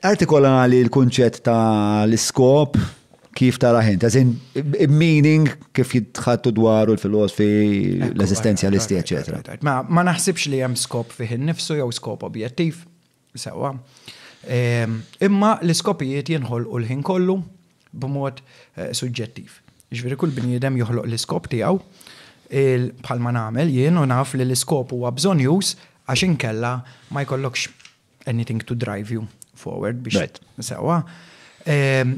Artikola li l-kunċett ta' l-iskop kif tarah int, as in meaning kif jitħattu dwaru l-filosfi, l-eżistenzjalisti, eċetera. Ma, ma naħsibx li hemm skop fih innifsu jew skop objettiv, sewwa. Ehm, imma l-iskopijiet jinħolqu l-ħin kollu b'mod eh, suġġettiv. Ġifieri kull bniedem joħloq l-iskop tiegħu il- bħalma nagħmel jien u naf li l-iskop huwa bżonjuż għax inkella ma jkollokx anything to drive you forward biex. Right. Sewa.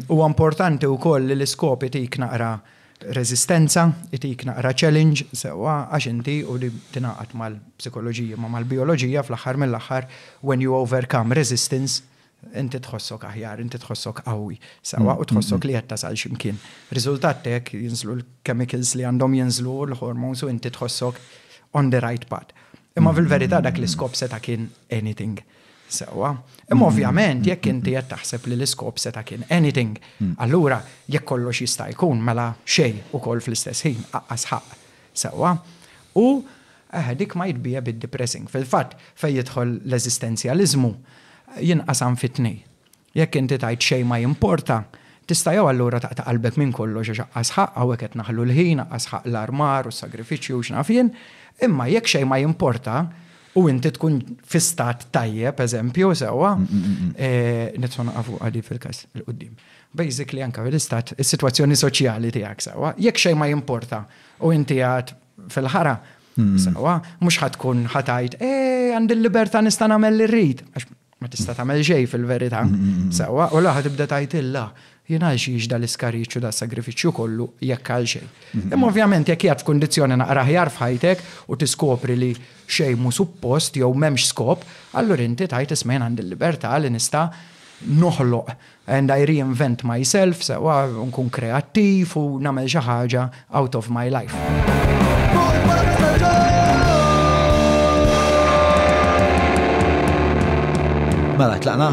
U importanti u koll li l-iskop itik naqra rezistenza, itik naqra challenge, sewa, għax inti u li tinaqat mal-psikologija, ma mal-biologija fl-axar mill-axar, when you overcome resistance, inti tħossok aħjar, inti tħossok qawwi, sewa, u tħossok li jetta sal ximkien. Rizultat tek jinżlu l-chemicals li għandhom jinżlu l-hormones u inti tħossok on the right path. Imma fil-verità dak l-iskop seta' kien anything. Sewa. Imma mm. ovvjament jekk inti qed taħseb li l-iskop seta' kien anything, mm. allura jekk kollox jista' jkun mela xejn ukoll fl-istess ħin aqqas ħaq. Sewa. U eh, dik ma jitbija bid-depressing. Fil-fatt fejn jidħol l-eżistenzjaliżmu jinqasam fit-tnej. Jekk inti tgħid xejn ma jimporta, tista' jew allura taqta' qalbek minn kollox għax aqqas ħaqq hawnhekk qed naħlu l-ħin, aqqas ħaqq l-armar u s-sagrifiċċju u x'naf jien, imma jekk xejn ma jimporta u inti tkun fi stat tajjeb, eżempju, sewwa, nistgħu naqa' fuqha di fil-każ il-quddiem. Basically anke fil-istat, is-sitwazzjoni soċjali tiegħek, sewwa, jekk xejn ma jimporta u inti għad fil-ħara, sewwa, mhux ħa tkun ħa tgħid, eh, għandi l-libertà nista' nagħmel li rrid, għax ma tista' tagħmel xejn fil-verità. Sewwa, u laħa tibda tgħidilha jien għal xiex da l-iskariċċju da sagrifiċċju kollu jekk għal xejn. Mhm. Imma ovvjament jekk jgħad f'kundizzjoni naqra ħjar f'ħajtek u tiskopri li xejn mu suppost jew m'hemmx skop, allura inti tajt ismejn għandi l-libertà li nista' noħloq And I reinvent myself, sewwa nkun kreattiv u nagħmel xi ħaġa out of my life. Mela, tlaqna?